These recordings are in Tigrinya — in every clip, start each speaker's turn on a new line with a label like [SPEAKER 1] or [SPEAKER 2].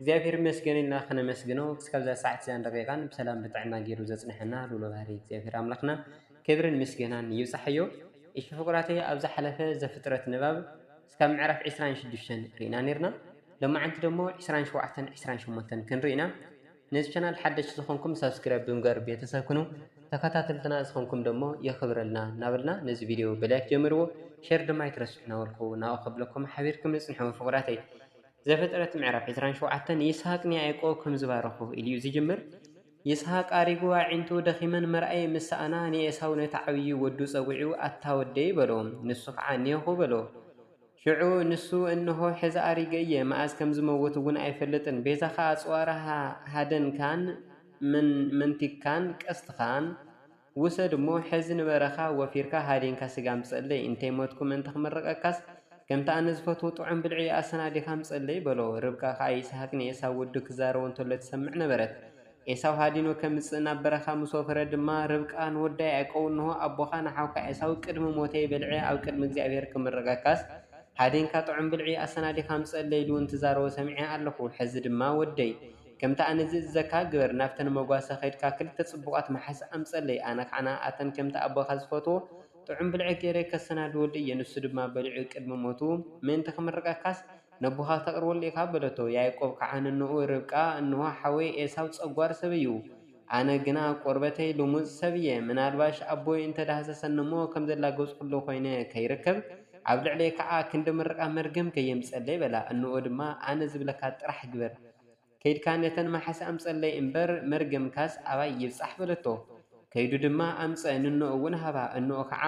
[SPEAKER 1] እግዚኣብሔር ይመስገን ኢልና ከነመስግኖ ክሳብ እዛ ሰዓት እዛን ደቂቃን ብሰላም ብጥዕና ገይሩ ዘጽነሐና ልኡለ ባህሪ እግዚኣብሔር ኣምላክና ክብርን ምስገናን ይብጻሓዮ እሺ ፍቁራተይ ኣብ ዝሓለፈ ዘፍጥረት ንባብ እስካብ ምዕራፍ ዕስራን ሽዱሽተን ሪኢና ኔርና ሎማዓንቲ ደሞ ዕስራን ሸውዓተን ዕስራን ሸሞንተን ክንሪኢ ኢና ነዚ ቻናል ሓደሽቲ ዝኮንኩም ሳብስክራይብ ብምግባር ቤተሰብ ኩኑ ተከታተልትና ዝኮንኩም ደሞ የክብረልና እናበልና ነዚ ቪድዮ ብላይክ ጀምርዎ ሸር ድማ ኣይትረስዑ እናበልኩ ናብኡ ከብለኩም ሓቢርኩም ንጽንሑ ፍቁራተይ ዘፍጥረት ምዕራፍ ዕስራን ሸውዓተን ይስሃቅ ንያእቆብ ከም ዝባረኾ ኢሉ'ዩ ዝጅምር። ይስሃቅ ኣሪጉ ኣዒንቱ ደኺመን ምርኣይ ምስ ሰኣና ንኤሳው ነቲ ዓብዪ ወዱ ጸዊዑ ኣታ ወደይ በሎ። ንሱ ኸኣ እኔኹ በሎ። ሽዑ ንሱ እንሆ ሕዚ ኣሪገ እየ፣ መኣዝ ከም ዝመውት እውን ኣይፈልጥን፣ ቤዛኻ ኣጽዋርካ፣ ሃደንካን መንቲግካን ቀስትኻን፣ ውሰድ እሞ ሕዚ ንበረኻ ወፊርካ ሃዲንካ ስጋ ምጸለይ፣ እንተይ ሞትኩ ምእንቲ ክምርቐካስ፣ ከምቲ ኣነ ዝፈትዎ ጥዑም ብልዒ ኣሰናዲኻ ምጸለይ፣ በሎ። ርብቃ ከኣ ይስሃቅ ንኤሳው ወዱ ክዛረቦ እንተሎ ትሰምዕ ነበረት። ኤሳው ሃዲኑ ከምጽእ ናብ በረኻ ምስ ወፈረ ድማ፣ ርብቃ ንወዳ ያእቆብ እንሆ፣ ኣቦኻ ንሓውካ ኤሳው ቅድሚ ሞተይ በልዔ ኣብ ቅድሚ እግዚኣብሄር ክምርቐካስ፣ ሃዲንካ ጥዑም ብልዒ ኣሰናዲኻ ምጸለይ ኢሉ እንትዛረቦ ሰሚዔ ኣለኹ። ሕዚ ድማ ወደይ! ከምቲ ኣነ ዝእዝዘካ ግበር፣ ናብተን መጓሰ ኸይድካ ኽልተ ጽቡቓት መሓዛ ኣምጸለይ፣ ኣነ ኸኣ ንኣኣተን ከምቲ ኣቦኻ ዝፈትዎ ጥዑም ብልዒ ገይረ ከሰናድወሉ እየ፣ ንሱ ድማ በሊዑ ቕድሚ ሞቱ፣ ምእንቲ ኽምርቐካስ፣ ነቦኻ ኽተቕርበሉ ኢኻ፣ በለቶ። ያእቆብ ከኣ ንኖኡ፣ ርብቃ፣ እንሆ፣ ሓወይ ኤሳው ጸጓር ሰብ እዩ፣ ኣነ ግና ቈርበተይ ልሙጽ ሰብ እየ፣ ምናልባሽ ኣቦይ እንተ ዳህሰሰኒ እሞ ኸም ዘላገጽኩሉ ዀይነ ኸይርከብ፣ ኣብ ልዕለይ ኸኣ ክንዲ ምርቓ መርገም ከየምጽኣለይ፣ በላ። እንሆ ድማ፣ ኣነ ዝብለካ ጥራሕ ግበር። ከይድካ ነተን ማሓስ ኣምጸለይ እምበር መርገምካስ ኣባይ ይብጻሕ በለቶ ከይዱ ድማ ኣምጸ ንኖኡ ውን ሃባ እኖኡ ካዓ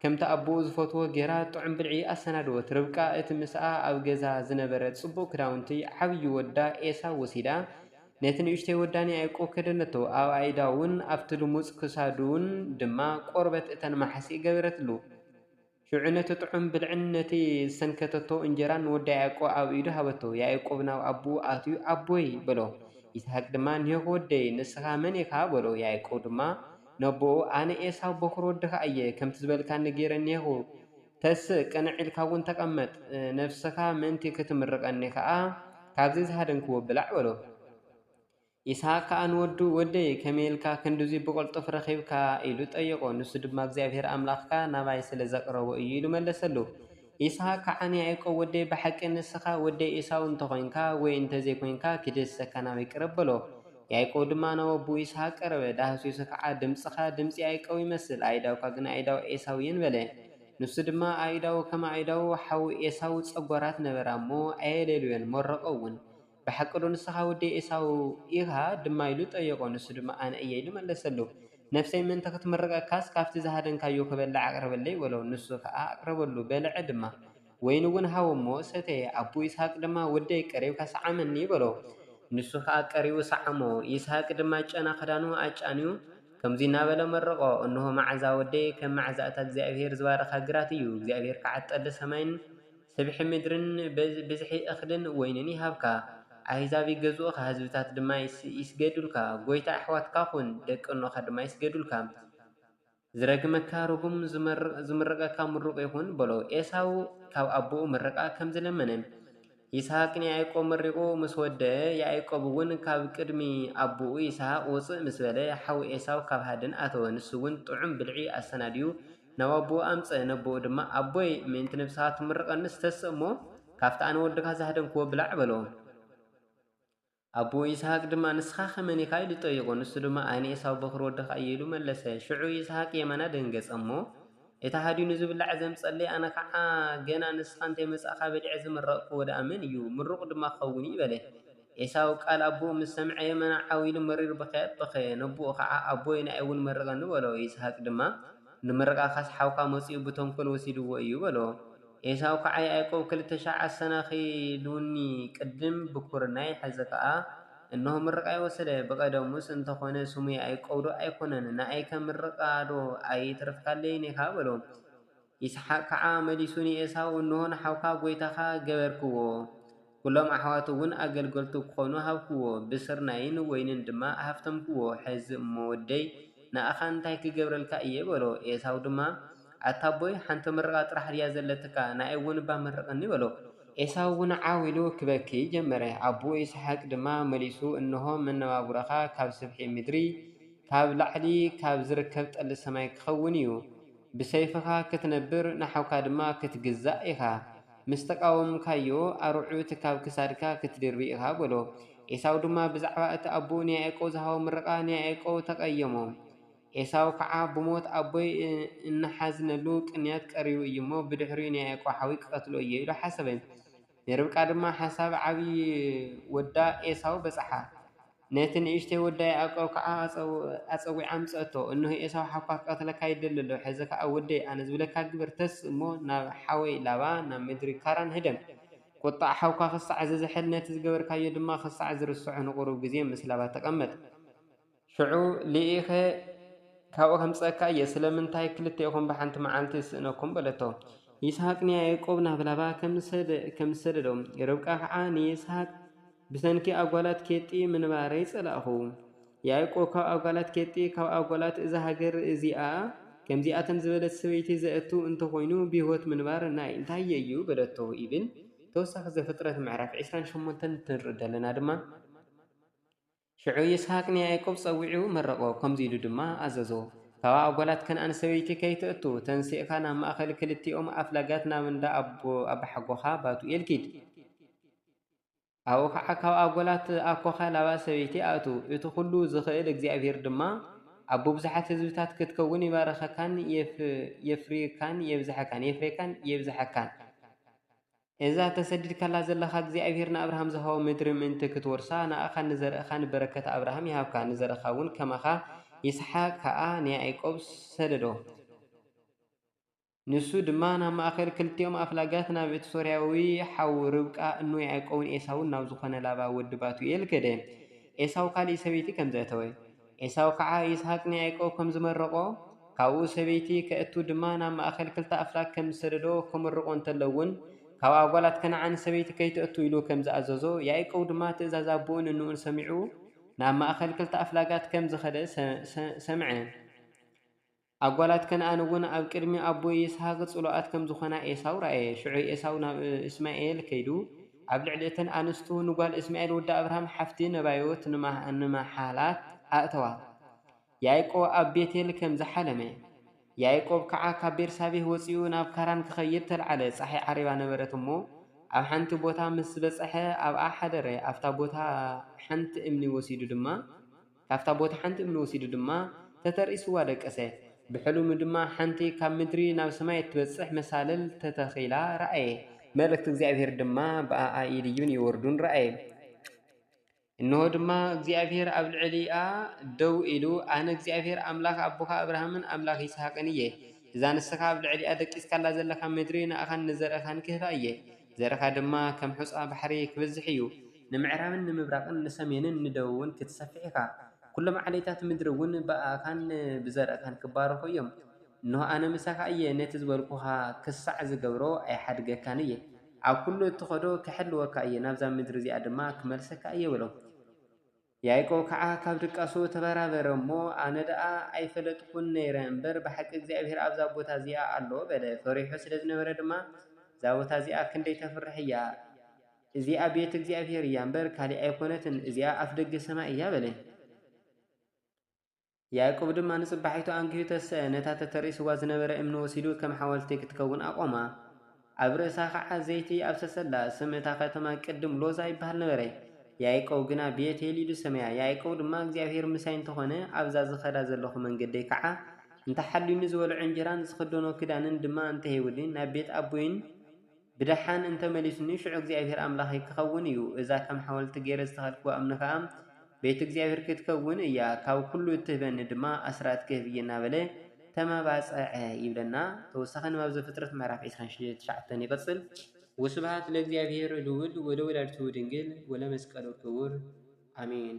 [SPEAKER 1] ከምቲ ኣቦኡ ዝፈትዎ ገይራ ጥዑም ብልዒ ኣሰናደወት ርብቃ እቲ ምሳኣ ኣብ ገዛ ዝነበረ ጽቡቅ ክዳውንቲ ዓብዩ ወዳ ኤሳው ወሲዳ ነቲ ንእሽተይ ወዳ ንያእቆብ ከደነቶ ኣብ ኣኢዳውን ኣብቲ ልሙጽ ክሳዱን ድማ ቆርበት እተን ማሓሲእ ገበረትሉ። ሽዑ ነቲ ጥዑም ብልዕን ነቲ ዝሰንከተቶ እንጀራን ንወዳ ያእቆብ ኣብ ኢዱ ሃበቶ። ያእቆብ ናብ ኣቦኡ ኣትዩ፣ ኣቦይ! በሎ። ይስሃቅ ድማ፣ ኔኅ ወደይ፣ ንስኻ መን ኢኻ? በሎ። ያእቆብ ድማ ነቦኡ፣ ኣነ ኤሳው በዅሪ ወድኻ እየ፣ ከምቲ ዝበልካኒ ገይረ እኔኹ፣ ተስእ፣ ቅንዕ ኢልካ'ውን ተቐመጥ፣ ነፍስኻ ምእንቲ ክትምርቐኒ ከኣ ካብዚ ዝሃደንክዎ ብላዕ፣ በሎ። ይስሃቅ ከኣ ንወዱ፣ ወደይ፣ ከመይ ኢልካ ክንድዙይ ብቕልጡፍ ረኺብካ? ኢሉ ጠየቖ። ንሱ ድማ፣ እግዚኣብሄር ኣምላኽካ ናባይ ስለ ዘቕረቦ እዩ፣ ኢሉ መለሰሉ። ይስሃቅ ከዓኒ፣ ያእቆብ ወደይ፣ ብሓቂ ንስኻ ወደይ ኤሳው እንተ ዄንካ ወይ እንተ ዘይኰንካ፣ ክድህስሰካ ናበይ ቅረብ፣ በሎ። ያእቆብ ድማ ናብ ኣቦኡ ይስሃቅ ቀረበ። ዳህሲሱ ከኣ፣ ድምጽኻ ድምጺ ያእቆብ ይመስል፣ ኣእዳውካ ግና ኣእዳው ኤሳው እየን፣ በለ። ንሱ ድማ፣ ኣእዳዉ ከም ኣእዳው ሓዉ ኤሳው ጸጓራት ነበራ እሞ፣ ኣየሌልዮን፣ መረቖ እውን። ብሓቂዶ ንስኻ ወዲ ኤሳው ኢኻ? ድማ ኢሉ ጠየቖ። ንሱ ድማ ኣነ እየ ኢሉ መለሰሉ። ነፍሰይ ምእንቲ ኽትምርቐካስ፣ ካብቲ ዝሃደንካዮ ኽበልዕ ኣቕርበለይ በሎ። ንሱ ኸኣ ኣቕረበሉ፣ በልዐ ድማ። ወይኒ እውን ሃቦ እሞ ሰተየ። ኣቦ ይስሃቅ ድማ፣ ወደይ፣ ቀሪብካ ስዓመኒ፣ በሎ። ንሱ ኸኣ ቀሪቡ ሰዓሞ። ይስሃቅ ድማ ጨና ኽዳኑ ኣጫንዩ፣ ከምዙይ እናበለ መረቖ፣ እንሆ መዓዛ ወደይ፣ ከም መዓዛ እታ እግዚኣብሄር ዝባረኻ ግራት እዩ፣ እግዚኣብሄር ከዓ ጠሊ ሰማይን፣ ስብሒ ምድርን ብዝሒ እኽልን ወይንን ይሃብካ፣ ኣህዛብ ይገዝኡኻ፣ ህዝብታት ድማ ይስገዱልካ፣ ጐይታ ኣሕዋትካ ኹን፣ ደቂ እኖኻ ድማ ይስገዱልካ። ዝረግመካ ርጉም፣ ዝምርቐካ ምሩቕ ይኹን በሎ። ኤሳው ካብ ኣቦኡ ምርቓ ከም ዝለመነ፣ ይስሃቅ ንያእቆብ መሪቑ ምስ ወደኣ፣ ያእቆብ እውን ካብ ቅድሚ ኣቦኡ ይስሃቅ ውጽእ ምስ በለ፣ ሓው ኤሳው ካብ ሃድን ኣተወ፣ ንሱ እውን ጥዑም ብልዒ ኣሰናድዩ ናብ ኣቦኡ ኣምጸ ነቦኡ ድማ ኣቦይ ምእንቲ ነብስኻ ትምርቐኒስ ተስእ እሞ ካብቲ ኣነ ወድኻ ዝሃደንክዎ ብላዕ በሎ። ኣቦኡ ይስሃቅ ድማ ንስኻኸ መን ኢኻ ኢሉ ጠይቖ ንሱ ድማ ኣነ ኤሳው በዅሪ ወድኻ እየ ኢሉ መለሰ። ሽዑ ይስሃቅ የማና ደንገጸ እሞ እቲ ሃዲኑ ዝብላዕ ዘምጸለይ ኣነ ኸኣ ገና ንስኻ እንተይመጻእካ በሊዐ ዝምረቕክዎ ደኣ መን እዩ ምሩቕ ድማ ክኸውን እዩ በለ። ኤሳው ቃል ኣቦኡ ምስ ሰምዐ የመና ዓው ኢሉ መሪር ብኽያት በኸየ። ነቦኡ ኸዓ፣ ኣቦይ ንኣይ'ውን መርቐኒ፣ በሎ። ይስሃቅ ድማ፣ ንምርቓኻስ ሓውካ መጺኡ ብተንኰል ወሲድዎ እዩ፣ በሎ። ኤሳው ኸዓ፣ ያእቆብ ክልተ ሽሕ ኣሰናኺሉኒ፣ ቅድም ብኵርናይ ሕዚ ኸዓ እንሆ ምርቓይ ወሰደ። ብቐደሙስ እንተ ዀነ ስሙ ያእቆብዶ ኣይኰነን? ንኣይከ ምርቓዶ ኣይተረፍካለይን ኢኻ? በሎ። ይስሓቅ ከዓ መሊሱ ንዔሳው፣ እንሆ ንሓውካ ጐይታኻ ገበርክዎ፣ ኵሎም ኣሕዋቱውን ኣገልገልቱ ኪዀኑ ሃብክዎ፣ ብስርናይን ወይንን ድማ ኣሀፍተምክዎ፣ ሕዚ እሞ ወደይ፣ ንኣኻ እንታይ ክገብረልካ እየ? በሎ። ዔሳው ድማ፣ ኣታ ኣቦይ፣ ሓንቲ ምርቓ ጥራሕ ድያ ዘለትካ? ንኣይውን እባ መርቐኒ፣ በሎ። ዔሳውውን ዓው ኢሉ ኪበኪ ጀመረ። ኣቦኡ ይስሓቅ ድማ መሊሱ፣ እንሆ፣ መነባብሮኻ ካብ ስፍሒ ምድሪ፣ ካብ ላዕሊ ኻብ ዚርከብ ጠሊ ሰማይ ኪኸውን እዩ፣ ብሰይፍኻ ክትነብር ንሓውካ ድማ ክትግዛእ ኢኻ። ምስ ተቓወምካዮ፣ ኣርዑት ካብ ክሳድካ ክትድርቢ ኢኻ በሎ። ኤሳው ድማ ብዛዕባ እቲ ኣቦኡ ንያእቆብ ዝሃቦ ምርቓ ንያእቆብ ተቐየሞ። ኤሳው ከዓ ብሞት ኣቦይ እንሓዝነሉ ቅንያት ቀሪቡ እዩ እሞ፣ ብድሕሪኡ ንያእቆብ ሓውይ ክቐትሎ እየ ኢሉ ሓሰበ። ንርብቃ ድማ ሓሳብ ዓቢ ወዳ ኤሳው በጽሓ። ነቲ ንእሽተይ ወዳ ያእቆብ ከኣ ኣጸዊዓ ኣምጽኣቶ። እንሆ ኤሳው ሓውካ ክቐትለካ ይደሊ ኣሎ። ሕዚ ኸኣ ወደይ፣ ኣነ ዝብለካ ግበር፣ ተስእ እሞ ናብ ሓወይ ላባ ናብ ምድሪ ካራን ህደም። ቍጥዓ ሓውካ ኽሳዕ ዚዝሕል፣ ነቲ ዝገበርካዮ ድማ ኽሳዕ ዚርስዖ ንቝሩብ ግዜ ምስ ላባ ተቐመጥ። ሽዑ ልኢኸ ካብኡ ኸምፅአካ እየ፣ ስለምንታይ ክልቴኹም ብሓንቲ መዓልቲ ዝስእነኩም? በለቶ። ይስሃቅ ንያእቆብ ናብ ላባ ከምዝሰደዶ፣ ርብቃ ኸዓ ንይስሃቅ ብሰንኪ ኣጓላት ኬጢ ምንባረይ ፀላእኹ። ያእቆብ ካብ ኣጓላት ኬጢ፣ ካብ ኣጓላት እዛ ሃገር እዚኣ ከምዚኣተን ዝበለት ሰበይቲ ዘእቱ እንተኾይኑ ብህይወት ምንባር ናይ እንታይ'ዩ? በለቶ። ይብል። ተወሳኺ ዘፍጥረት ምዕራፍ ዕስራን ሸሞንተን እንትንርኢ ደለና ድማ፣ ሽዑ ይስሃቅ ንያእቆብ ጸዊዑ መረቖ፣ ከምዚ ኢሉ ድማ ኣዘዞ፣ እታዋ ኣጓላት ከነኣን ሰበይቲ ከይተእቱ፣ ተንሲእካ ናብ ማእከል ክልቲኦም ኣፍላጋት ናብ እንዳ ኣቦሓጎኻ ባቱኤል ኪድ። ኣብኡ ኸኣ ካብ ኣጓላት ኣኮኻ ላባ ሰበይቲ ኣእቱ፣ እቲ ኹሉ ዝኽእል እግዚኣብሄር ድማ ኣቦ ብዙሓት ህዝብታት ክትከውን ይባርኸካን የፍርየካን የብዝሓካን። እዛ ተሰዲድካላ ዘለኻ እግዚኣብሄር ንኣብርሃም ዝሃቦ ምድሪ ምእንቲ ክትወርሳ ንኣኻን ንዘርእኻን በረከት ኣብርሃም ይሃብካ ንዘርእኻ እውን ከማኻ ይስሓቅ ከኣ ንያኢቆብ ሰደዶ ንሱ ድማ ናብ ማእከል ክልቲኦም ኣፍላጋት ናብ እቲ ሶርያዊ ሓው ርብቃ እኖ ያኢቆብን ኤሳውን ናብ ዝኾነ ላባ ወዲ ባቱኤል ከደ ኤሳው ካሊእ ሰበይቲ ከም ዘእተወ ኤሳው ኸኣ ይስሃቅ ንያእቆብ ከም ዝመረቖ፣ ካብኡ ሰበይቲ ከእቱ ድማ ናብ ማእከል ክልተ ኣፍላግ ከም ዝሰደዶ ክምርቖ እንተሎ'ውን ካብኣ ጓላት ከነዓን ሰበይቲ ከይተእቱ ኢሉ ከም ዝኣዘዞ ያእቆብ ድማ ትእዛዝ ኣቦኡን እንኡን ሰሚዑ ናብ ማእከል ክልተ ኣፍላጋት ከም ዝኸደ ሰምዐ። ኣጓላት ከነኣን እውን ኣብ ቅድሚ ኣቦ ይስሃቅ ጽሉኣት ከም ዝዀና ኤሳው ረኣየ። ሽዑ ኤሳው ናብ እስማኤል ከይዱ፣ ኣብ ልዕሊ እተን ኣንስቱ ንጓል እስማኤል ወዲ ኣብርሃም ሓፍቲ ነባዮት ንመሓላት ኣእተዋ። ያእቆብ ኣብ ቤቴል ከም ዝሓለመ። ያእቆብ ከኣ ካብ ቤርሳቤህ ወጺኡ ናብ ካራን ክኸይድ ተልዓለ። ጸሓይ ዓሪባ ነበረት እሞ፣ ኣብ ሓንቲ ቦታ ምስ በጽሐ ኣብኣ ሓደረ፣ ኣብታ ቦታ ሓንቲ እምኒ ወሲዱ ድማ። ካብታ ቦታ ሓንቲ እምኒ ወሲዱ ድማ ተተርኢስዋ ደቀሰ። ብሕልሙ ድማ ሓንቲ ካብ ምድሪ ናብ ሰማይ እትበጽሕ መሳልል ተተኺላ ረኣየ፣ መለክቲ እግዚኣብሄር ድማ ብኣኣ ይድይቡን ይወርዱን ረኣየ። እንሆ ድማ፣ እግዚኣብሄር ኣብ ልዕሊኣ ደው ኢሉ፣ ኣነ እግዚኣብሄር ኣምላኽ ኣቦኻ ኣብርሃምን ኣምላኽ ይስሃቅን እየ። እዛ ንስኻ ኣብ ልዕሊኣ ደቂስካላ ዘለኻ ምድሪ ንኣኻን ንዘርእኻን ክህባ እየ። ዘርካ ድማ ከም ሑጻ ባሕሪ ኪበዝሕ እዩ፣ ንምዕራብን ንምብራቕን ንሰሜንን ንደቡብን ክትሰፍሕ ኢኻ፣ ኵሎም ዓሌታት ምድሪውን ብኣኻን ብዘርእካን ኪባረኹ እዮም። እንሆ፣ ኣነ ምሳኻ እየ፣ ነቲ ዝበልኩኻ ኽሳዕ ዝገብሮ ኣይሓድገካን እየ። ኣብ ኵሉ እትኸዶ ኽሕልወካ እየ፣ ናብዛ ምድሪ እዚኣ ድማ ክመልሰካ እየ በሎ። ያእቆብ ከኣ ካብ ድቃሱ ተበራበረ እሞ፣ ኣነ ደኣ ኣይፈለጥኩን ነይረ እምበር፣ ብሓቂ እግዚኣብሄር ኣብዛ ቦታ እዚኣ ኣሎ፣ በለ። ፈሪሑ ስለ ዝነበረ ድማ፣ እዛ ቦታ እዚኣ ክንደይ ተፍርሕ እያ! እዚኣ ቤት እግዚኣብሄር እያ እምበር፣ ካልእ ኣይኰነትን፣ እዚኣ ኣፍደገ ሰማይ እያ፣ በለ። ያእቆብ ድማ ንጽባሒቱ ኣንጊሁ ተሰኣ፣ ነታ ተተርኢስዋ ዝነበረ እምኒ ወሲዱ ከም ሓወልቲ ክትከውን ኣቖማ። ኣብ ርእሳ ኸኣ ዘይቲ ኣፍሰሰላ። ስም እታ ኸተማ ቅድም ሎዛ ይብሃል ነበረ፣ ያእቆብ ግና ቤት-ኤል ኢሉ ሰመያ። ያእቆብ ድማ፣ እግዚኣብሄር ምሳይ እንተ ዀነ፣ ኣብዛ ዝኸዳ ዘለኹ መንገደይ ከኣ እንተ ሓልዩኒ፣ ዝበልዖ እንጀራን ዝኽደኖ ክዳንን ድማ እንተ ሂቡኒ፣ ናብ ቤት ኣቦይን፣ ብደሓን እንተ መሊሱኒ፣ ሽዑ እግዚኣብሄር ኣምላኸይ ኪኸውን እዩ፣ እዛ ከም ሓወልቲ ገይረ ዝተኸልክዋ እምኒ ኸኣ፣ ቤት እግዚኣብሄር ክትከውን እያ፣ ካብ ኵሉ እትህበኒ ድማ፣ ኣስራት ክህብ እየ እናበለ ተመባጽዐ ይብለና። ተወሳኺ ንባብ ዘፍጥረት ምዕራፍ ዕስራን ትሽዓተን ይቕጽል። ወስብሃት ለእግዚኣብሄር ልዑል ወለወላዲቱ ድንግል ወለመስቀሉ ክቡር ኣሜን።